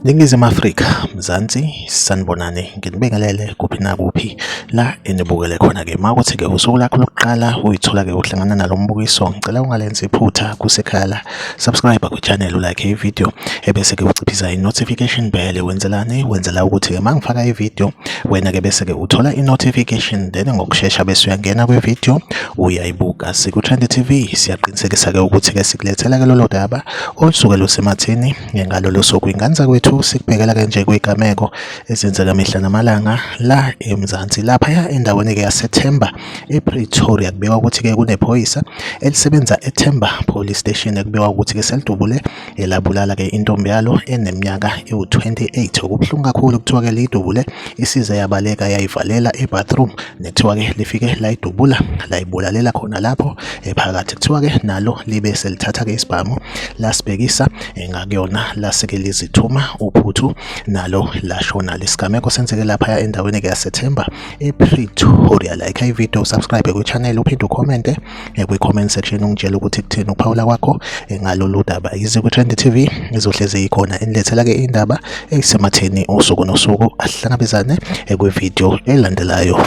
Ningizimu Afrika, Mzansi, sanibonani, nginibingelele kuphi nakuphi la enibukele khona-ke. Uma ukuthi-ke usuku lakho lokuqala uyithola-ke uhlangana nalo mbukiso, ngicela ungalenzi iphutha kusekhaya la. subscribe kwichannel ulike ivideo ebese ke uciphisa i-notification bell wenzelani wenzela ukuthi ke mangifaka ivideo wena ke bese ke uthola i-notification then ngokushesha bese uyangena kwivideo uyayibuka siku-trend tv siyaqinisekisa ke ukuthi ke sikulethela ke lolo daba olusuke lusemathini ngalolo suku inganza kwethu sikubhekela ke nje kwigameko ezenzeka mihla namalanga la emzansi laphaya endaweni ke yasethemba ePretoria kubikwa ukuthi ke kunephoyisa elisebenza eThemba Police Station kubikwa ukuthi ke selidubule elabulala ke intombi yalo eneminyaka ewu-28 okubuhlungu kakhulu kuthiwa ke liyidubule isize yabaleka yayivalela ebathroom nethiwa ke lifike layidubula layibulalela khona lapho ephakathi kuthiwa ke nalo libe selithatha ke isibhamu lasibhekisa ngakuyona laseke lizithuma uphuthu nalo lashona lesigameko senzeke lapha endaweni ke yaseThemba epretoria like ivideo subscribe kwichannel uphinde ucommente eh, kwi-comment section ungitshela ukuthi kutheni ukuphawula kwakho eh, ngalolu daba yize kwi-trend tv izohlezi ikhona inilethela-ke indaba eyisematheni usuku nosuku ahlangabezane eh, kwivideo elandelayo